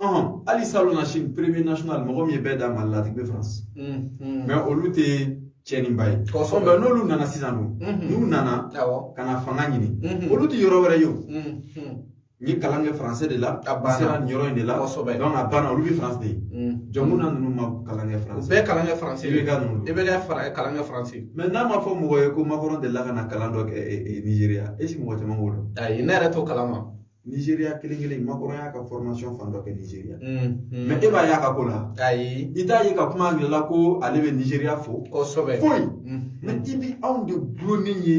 ɔhɔn hali salonnasini premier national mɔgɔ min ye bɛɛ dan mali la a tigi bɛ france mais olu tɛ cɛninba ye kosɔn mais n'olu nana sisan dun n'u nana ka na fanga ɲini olu tɛ yɔrɔ wɛrɛ ye o n ye kalan kɛ français de la a sera nin yɔrɔ in de la kosɛbɛ donc a banna olu bɛ france de ye jɔnko na ninnu ma kalan kɛ france bɛɛ kalan kɛ france i bɛ ka ninnu i bɛ ka fara kalan kɛ france mais n'a ma fɔ mɔgɔ ye ko macron delila ka na kalan dɔ kɛ nigeria est ce que mɔgɔ caman b'o dɔn ayi ne yɛrɛ t'o kalama Nigeria kelen kelen macron y'a ka formation fan dɔ kɛ nigeria mais e b'a y'a ka ko la ayi i t'a ye ka kuma angilɛ la ko ale bɛ nigeria fo kosɛbɛ foyi mais i bi anw de gulonnen ye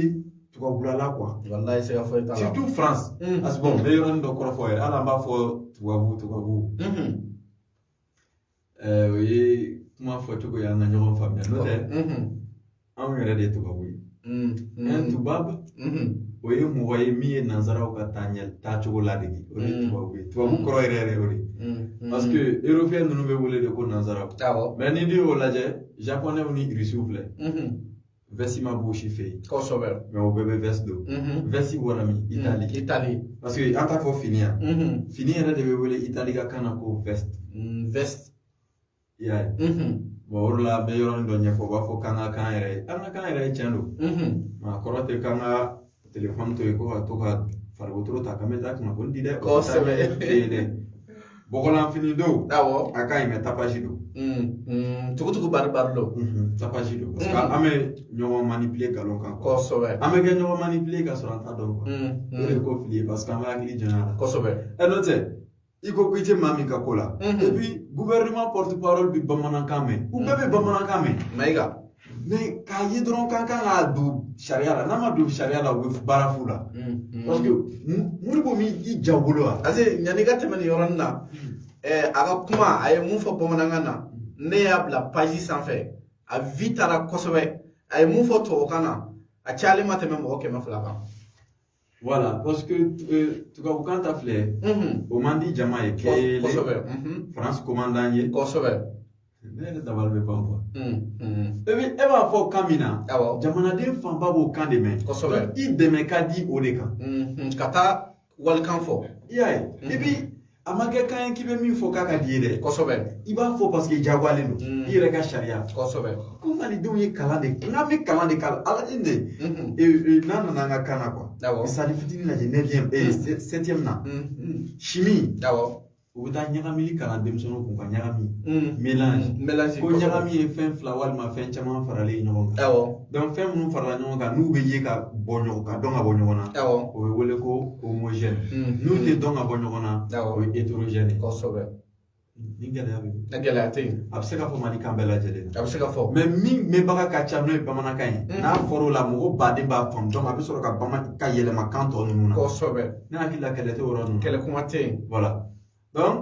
tubabula la quoi walayi siga foyi t'a la surtout france parce que bon n bɛ yɔrɔnin dɔ kɔrɔ fɔ yɛrɛ hali an b'a fɔ tubabu tubabu Ɛɛ o ye kuma fɔcogo ye an ka ɲɔgɔn faamuya n'o tɛ anw yɛrɛ de ye tubabu ye tubabu o ye mɔgɔ ye min ye nanzaraw ka taa ɲɛ taacogo ladege o ye tubabu ye tubabu kɔrɔ yɛrɛ yɛrɛ o de parce que européen ninnu bɛ wele de ko nanzaraw mais n'i y'o lajɛ japɔnɛw ni irisiw filɛ vɛsi ma b'o si fɛ yen kosɛbɛ mais o bɛɛ bɛ vɛsi don vɛsi bɔra min itali itali parce que an t'a fɔ fini yan fini yɛrɛ de bɛ wele itali ka kan na ko vɛsi vɛsi i y'a ye bon o de la an bɛ yɔrɔnin dɔ ɲɛfɔ u b'a fɔ k'an ka k'an yɛrɛ ye an ka k'an yɛrɛ ye tiɲɛ don nk'a kɔrɔ tɛ k'an ka telefɔni to yen ko ka to ka faliwotoro ta k'an bɛ taa kunnafoni di dɛ kosɛbɛ dɛ bɔgɔlanfini don awɔ a ka ɲi mais tapasi don tugutugu bari bari don tapasi don parce que an bɛ ɲɔgɔn manipuler galon kan kosɛbɛ an bɛ ka ɲɔgɔn manipuler ka sɔrɔ an t'a dɔn o de ko fili ye parce que an bɛ hakili janya a la kosɛbɛ ɛ n'o tɛ i ko ko i tɛ maa min ka ko la et puis gouvernement porte parole bɛ bamanankan mɛn u bɛɛ bɛ bamanankan mɛn mayiga mais k'a ye dɔrɔn k'an kan ka don sariya la n'a ma don sariya la u bɛ baara fu la parce que moribo min i ja bolo wa parce que yanni ka tɛmɛ nin yɔrɔnin na ɛɛ a ka kuma a ye mun fɔ bamanankan na ne y'a bila page sanfɛ a vue taara kosɛbɛ a ye mun fɔ tubabukan na a cayalen ma tɛmɛ mɔgɔ kɛmɛ fila kan Voilà, parce que euh, tubabukan ta filɛ o man di jama ye kelen France commandant ye kosɛbɛ ne yɛrɛ dabali bɛ ban quoi e bɛ e b'a fɔ kan min na jamanaden fanba b'o kan de mɛn kosɛbɛ i tɛmɛ ka di o de kan ka taa walikan fɔ i y'a ye et puis a ma kɛ kan ye k'i bɛ min fɔ k'a ka d'i ye dɛ kosɛbɛ i b'a fɔ parce que jagoyalen don i yɛrɛ ka sariya kosɛbɛ ko malidenw ye kalan de kɛ n'an bɛ kalan de kalan ala ni de n'a nana an ka kan na quoi misali fitinin lajɛ nɛgɛn septième na chimie u bɛ taa ɲagamili kalan denmisɛnninw kun ka ɲagami mélange ko ɲagami ye fɛn fila walima fɛn caman faralen ɲɔgɔn kan fɛn minnu farala ɲɔgɔn kan n'u bɛ ye ka bɔ ɲɔgɔn ka dɔn ka bɔ ɲɔgɔn na awɔ o bɛ wele ko homogɛni n'u tɛ dɔn ka bɔ ɲɔgɔn na awɔ o ye heterogɛni kosɛbɛ ni gɛlɛya bɛ yen gɛlɛya tɛ yen a bɛ se ka fɔ mali kan bɛɛ lajɛlen a bɛ se ka fɔ mɛ min mɛnbaga ka ca n'o ye bamanankan ye n'a fɔra o la mɔgɔ baden b'a faamu dɔn a bɛ sɔrɔ ka yɛlɛma kan tɔ ninnu na kosɛbɛ ne hakili la kɛlɛ tɛ o yɔrɔ ninnu kɛlɛ kuma tɛ yen wala dɔn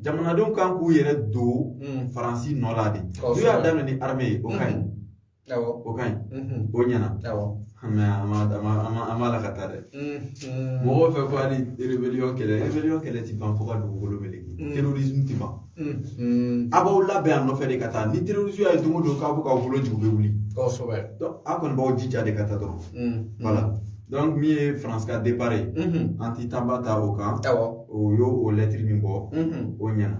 jamanadenw kan k'u yɛrɛ don faransi nɔ la de n'u y'a daminɛ ni arme ye o ka ɲi o ka ɲi o ɲɛna mɛ an ma an ma la ka taa dɛ mɔgɔw fɛ ko hali rebeliyɔn kɛlɛ rebeliyɔn kɛlɛ ti ban fo ka dugukolo meleke terorisme ti ban a b'aw labɛn a nɔfɛ de ka taa ni terorisi y'a ye don o don k'aw bɛ k'aw bolo jigin u bɛ wuli kosɛbɛ a kɔni b'aw jija de ka taa dɔrɔn wala donc min ye faransi ka depart ye an ti tanba ta o kan o y'o lɛtiri min bɔ o ɲɛna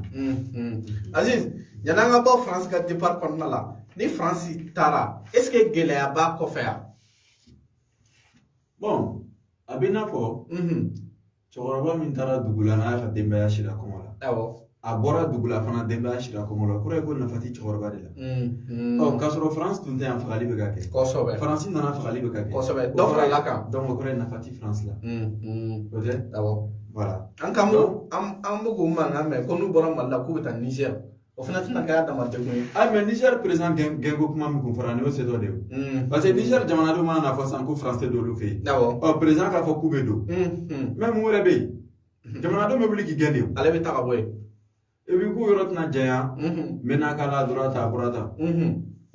aziz yann'an ka bɔ faransi ka depart kɔnɔna la ni faransi taara est ce que gɛlɛya b'a kɔfɛ yan bon a bɛ i n'a fɔ cɛkɔrɔba min taara dugu la n'a ka denbaya sira kɔngɔ la awɔ a bɔra dugu la fana denbaya sira kɔngɔ la o kɔrɔ ye ko nafa ti cɛkɔrɔba de la ɔ k'a sɔrɔ faransi tun tɛ yan fagali bɛ ka kɛ kosɛbɛ faransi nana fagali bɛ ka kɛ kosɛbɛ dɔ farala a kan dɔnku o kɔrɔ ye nafa ti faransi la o tɛ awɔ wala an kan an bɛ k'o mankan mɛn ko n'u bɔra mali la k'u bɛ taa nizɛri O fana tɛna kɛ a dama degun ye a mɛ nizɛri perezan gɛnko kuma min kun fɔra nin y'o se dɔ de ye paseke nizɛri jamanadenw man'a fɔ sisan ko faransi tɛ don u fɛ yen ɔ perezan k'a fɔ k'u bɛ don mɛ mun wɛrɛ bɛ yen jamanadenw bɛ wuli k'i gɛn de ale bɛ taa ka bɔ yen epi k'u yɔrɔ tɛna janya menaka la dɔrɔn ta a bɔra ta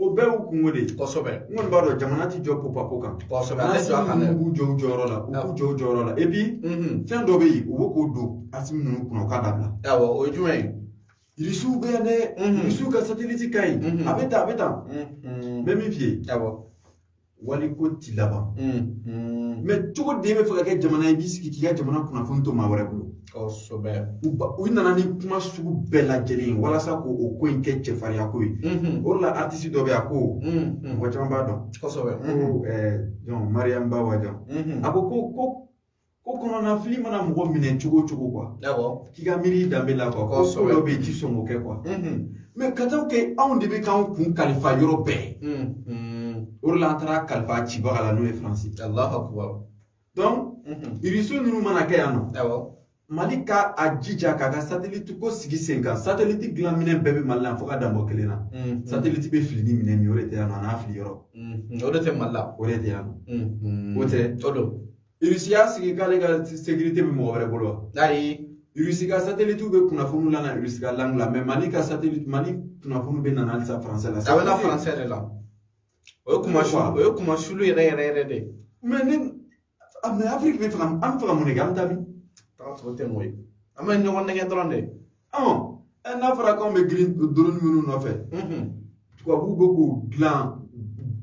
o bɛɛ y'u kunko de ye kosɛbɛ n kɔni b'a dɔn jamana ti jɔ popa ko kan kosɛbɛ ale jɔ a kan dɛ u jɔ u jɔyɔrɔ la u jɔ u jɔyɔrɔ la epi fɛn dɔ bɛ yen u bɛ k'o don asimi ninnu kunna u k'a dabila awɔ o ye jumɛn ye Irisiw bɛ yan dɛ irisiw ka sateliti ka ɲi a bɛ tan a bɛ tan n bɛ min f'i ye waliko ti laban mɛ cogo di e bɛ fɛ ka kɛ jamana ye i b'i sigi k'i ka jamana kunnafoni to maa wɛrɛ bolo kosɛbɛ u nana ni kuma sugu bɛɛ lajɛlen ye walasa k'o ko in kɛ cɛfarinya ko ye o de la atisi dɔ bɛ yan ko mɔgɔ caman b'a dɔn kosɛbɛ ko mariyamu ba wajan a ko ko ko ko kɔnɔnafili mana mɔgɔ minɛ cogo o cogo kuwa k'i ka miiri i danbe la kuwa ko su dɔ bɛ yen i ti sɔn k'o kɛ kuwa mɛ ka taa kɛ anw de bɛ k'anw kun kalifa yɔrɔ bɛɛ o de la an taara kalifa cibaga la n'o ye faransi dɔnku irisi ninnu mana kɛ yan nɔ mali ka a jija k'a ka sateliti ko sigi sen kan sateliti dilan minɛn bɛɛ bɛ mali la fo ka dan bɔ kelen na sateliti bɛ fili ni minɛn min o de tɛ yan nɔ a n'a fili yɔrɔ o de tɛ mali la o de tɛ yan nɔ o tɛ o don irisi y'a sigi k'ale ka sekirite bɛ mɔgɔ wɛrɛ bolo wa ayi irisi ka satelitiw bɛ kunnafoni lana irisi ka langi la mɛ mali ka satelit mali kunnafoni bɛ nana halisa faransɛ la a bɛ na faransɛ de la o ye kunmasu o ye kunmasuli yɛrɛ yɛrɛ yɛrɛ de mɛ ni mɛ afiriki bɛ fɛ ka an bɛ fɛ ka mun de kɛ an bɛ taa min taga tɔ tɛ mɔ ye an bɛ ɲɔgɔn nɛgɛ dɔrɔn de n'a fɔra k'anw bɛ girin drone minnu nɔfɛ tubabuw bɛ k'u dilan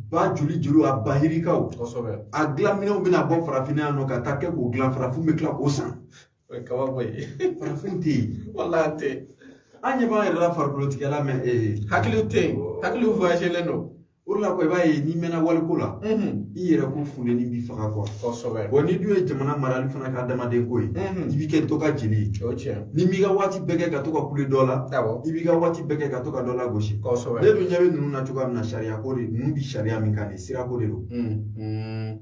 ba joli joli a ba yirikaw kosɛbɛ a dilanminɛnw bɛna bɔ farafinna yan nɔ ka taa kɛ k'u dilan farafin bɛ tila k'o san o ye kabako ye farafin tɛ yen walahi an tɛ an ɲɛ b'an yɛrɛ la farikolotigɛla mɛ hakili tɛ yen hakili voyagelen don o de la kuwa i b'a ye n'i mɛnna waliko la i yɛrɛ ko funteni b'i faga kuwa kosɛbɛ bɔn n'i dun ye jamana marali fana kɛ adamaden ko ye i b'i kɛ dɔ ka jeli ye o tiɲɛ n'i m'i ka waati bɛɛ kɛ ka to ka kule dɔ la awɔ i b'i ka waati bɛɛ kɛ ka to ka dɔ lagosi kosɛbɛ ne dun ɲɛ bɛ ninnu na cogoya min na sariya ko de ninnu bi sariya min kan nin sirako de don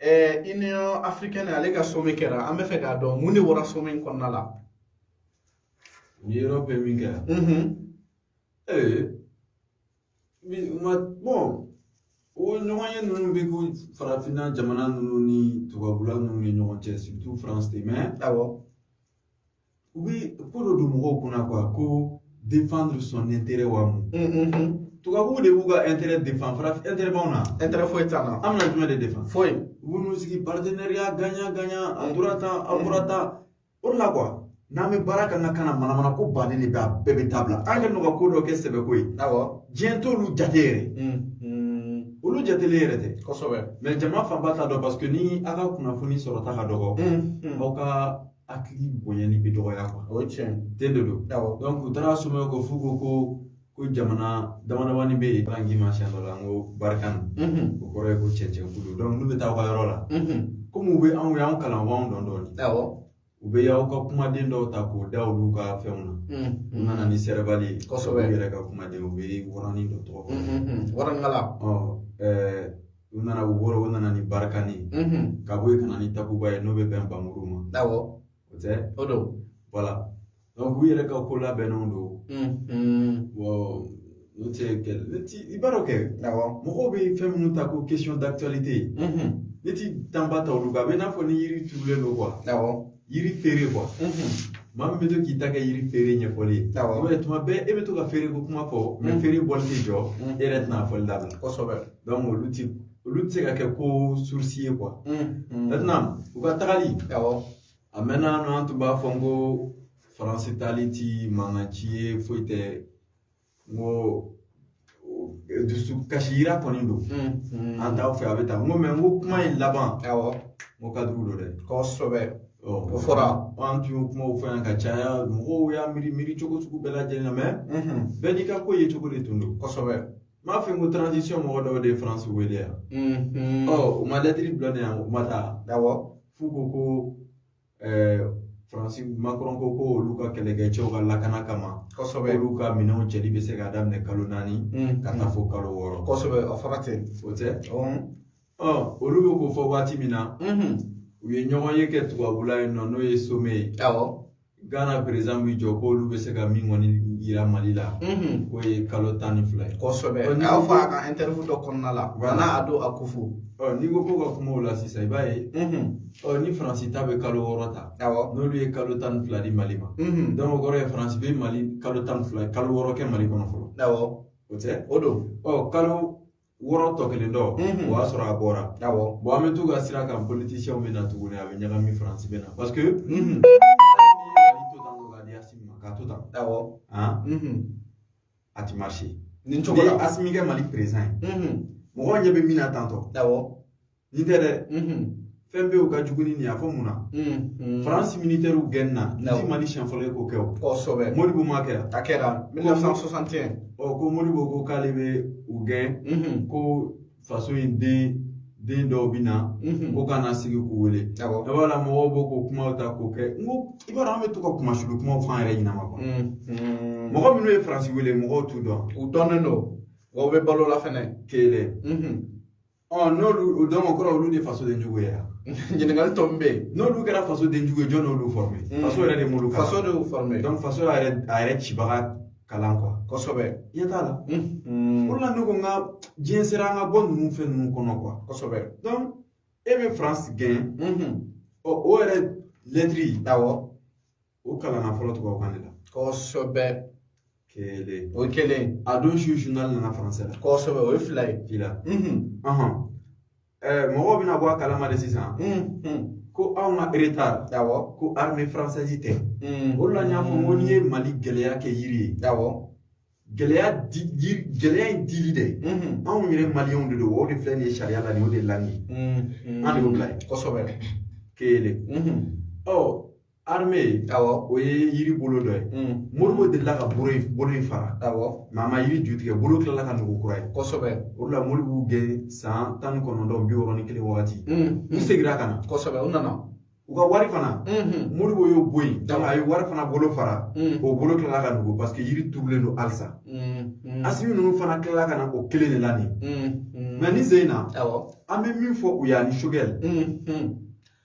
ɛɛ union africaine ale ka sommet kɛra an bɛ fɛ k'a dɔn mun de bɔra sommet in kɔnɔna la ni europe ye min kɛ yan ee ma bɔn o ɲɔgɔnye ninnu bɛ ko farafinna jamana ninnu ni tubabula ninnu ni ɲɔgɔn cɛ surtout faransi de mɛ awɔ U bɛ ko dɔ don mɔgɔw kunna kuwa ko défendre son intérêt wa mun tubabuw de b'u ka intérêt défendre farafin intérêt b'anw na intérêt foyi t'an na an bɛna jumɛn de défendre foyi u b'u sigi partenariat gagnant gagnant a tora tan a bɔra tan o la kuwa n'an bɛ baara kan ka kana manamana ko bannen de bɛ a bɛɛ bɛ dabila an ka nɔgɔ ko dɔ kɛ sɛbɛko ye awɔ diɲɛ t'olu jate yɛrɛ olu jatelen yɛrɛ tɛ kosɛbɛ mɛ jama fanba t'a dɔn paseke ni aw ka kunnafoni sɔrɔta ka dɔgɔ aw ka hakili bonyani bɛ dɔgɔya o ye tiɲɛ ye de don awɔ u taara sommet ko f'u ko ko ko jamana damadamani bɛ yen bange ma siɲɛ dɔ la n ko barikani o kɔrɔ ye ko cɛncɛn kulu donc n'u bɛ taa aw ka yɔrɔ la komi u bɛ anw y'anw kalan u b'anw dɔn dɔɔnin awɔ u bɛ y'aw ka kumaden dɔw ta k'o da olu ka fɛnw na u nana ni sɛrɛbali ye kosɛbɛ u yɛrɛ ka kumaden u bɛ waranin dɔ tɔgɔ waraninkala u nana u bɔra u nana ni barikani ka bɔ yen ka na ni takuba ye n'o bɛ bɛn banmuru ma awɔ o tɛ o don wala donc u yɛrɛ ka ko labɛnnenw don n'o tɛ ne ti i b'a dɔn kɛ awɔ mɔgɔw bɛ fɛn minnu ta ko question d'actualité ne ti tan ba ta olu kan a bɛ i n'a fɔ ni yiri turulen don awɔ yiri feere kuwa maa min bɛ to k'i ta kɛ yiri feere ɲɛfɔli ye awɔ i b'a ye tuma bɛɛ e bɛ to ka feere ko kuma fɔ mɛ feere bɔli tɛ jɔ e yɛrɛ tɛna a fɔli dabila kosɛbɛ olu ti olu tɛ se ka kɛ ko surusi ye kuwa maintenant u ka tagali awɔ a mɛnna nɔ an tun b'a fɔ n ko faransi taali ti mankan ci ye foyi tɛ n ko dusu kasi yira kɔni don an t'aw fɛ a bɛ taa n ko mɛ n ko kuma in laban awɔ n ko ka dugu don dɛ kosɛbɛ o fɔra an tun y'o kumaw fɔ yan ka caya mɔgɔw y'a miiri miiri cogo sugu bɛɛ lajɛlen na mɛ bɛɛ n'i ka ko ye cogo de tun don kosɛbɛ m'a fɛ n ko transition mɔgɔ dɔw de ye france wele yan ɔ u ma lɛtiri bila ne yan u ma taa awɔ f'u ko ko faransi makɔrɔn ko ko olu ka kɛlɛkɛcɛw ka lakana kama kosɛbɛ olu ka minɛnw cɛli bɛ se k'a daminɛ kalo naani ka taa fo kalo wɔɔrɔ kosɛbɛ a fara ten o tɛ olu bɛ k'o fɔ waati min na u ye ɲɔgɔn ye kɛ tubabula yen nɔ n'o ye some ye awɔ gana perezidan b'i jɔ k'olu bɛ se ka min kɔni yira mali la k'o ye kalo tan ni fila ye kosɛbɛ a y'a fɔ a ka ɛntɛriwu dɔ kɔnɔna la nana ado akufo n'i ko ko ka kuma o la sisan i b'a ye Ɔ ni faransi ta bɛ kalo wɔɔrɔ ta n'olu ye kalo tan ni fila di mali ma donc o kɔrɔ ye faransi bɛ mali kalo tan ni fila kalo wɔɔrɔ kɛ mali kɔnɔ fɔlɔ o tɛ o don ɔ kalo wɔɔrɔ tɔ kelen dɔ o y'a sɔrɔ a bɔra bɔn an bɛ t'u ka sira kan politisiyɛnw bɛ na tuguni a bɛ ɲagami faransi bɛ na parce que k'a to tan awɔ a ti marché nin cogo la asimi kɛ mali perezidan ye mɔgɔw ɲɛ bɛ min na tantɔ awɔ nin tɛ dɛ fɛn bɛ yen ka jugu ni nin y'a fɔ mun na faransi minitɛriw gɛnni na nin ti mali siɲɛ fɔlɔ ye k'o kɛ o kosɛbɛ modibo m'a kɛ a kɛra 1961 ɔ ko modibo ko k'ale bɛ u gɛn ko faso in den den dɔw bɛ na ko ka na sigi k'u wele a b'a la mɔgɔw b'o k'o kumaw ta k'o kɛ n ko i b'a dɔn an bɛ to ka kuma sulu kumaw fɔ an yɛrɛ ɲinɛ ma kɔnɔ mɔgɔ minnu ye faransi wele mɔgɔw t'u dɔn u dɔnnen don wa u bɛ balo la fɛnɛ kelen ɔ n'olu donc o kɔrɔ olu de faso den jugu ye ɲininkali tɔ min bɛ yen n'olu kɛra faso den jugu ye jɔn n'olu fɔrɔme mm. faso yɛrɛ de m'olu kalan faso de y'u fɔrɔme donc faso y'a yɛrɛ a yɛrɛ cibaga kalan kuwa kosɛbɛ ɲɛ t'a la o la ne ko n ka diɲɛ sera an ka bɔ ninnu fɛn ninnu kɔnɔ kuwa kosɛbɛ donc e bɛ faransi gɛn ɔ o yɛrɛ lɛtiri awɔ o kalanna fɔlɔ tubabukan de la kosɛbɛ kelen o ye kelen a don su zurunali nana faransɛ la kosɛbɛ o ye fila ye fila mɔgɔw bɛna bɔ a kalama de sisan ko anw ka eretari awɔ ko arime faransɛzi tɛ o la n y'a fɔ n ko n'i ye mali gɛlɛya kɛ yiri ye awɔ gɛlɛya di gɛlɛya in dili dɛ anw yɛrɛ maliyɛnw de don o de filɛ nin ye sariya la nin o de la nin ye an de y'o bila yen kosɛbɛ kelen ɔ arme awɔ o ye yiri bolo dɔ ye modibo delila ka bolo in bolo in fara awɔ mɛ a ma yiri ju tigɛ bolo tilala ka nugu kura ye kosɛbɛ o de la modibo y'u gɛn san tan ni kɔnɔntɔn bi wɔɔrɔ ni kelen wagati u segira ka na kosɛbɛ u nana u ka wari fana modibo y'o bɔ yen a ye wari fana bolo fara o bolo tilala ka nugu paseke yiri turulen don halisa asimi ninnu fana tilala ka na o kelen de la nin mɛ nin sen in na an bɛ min fɔ u ye ani sogɛli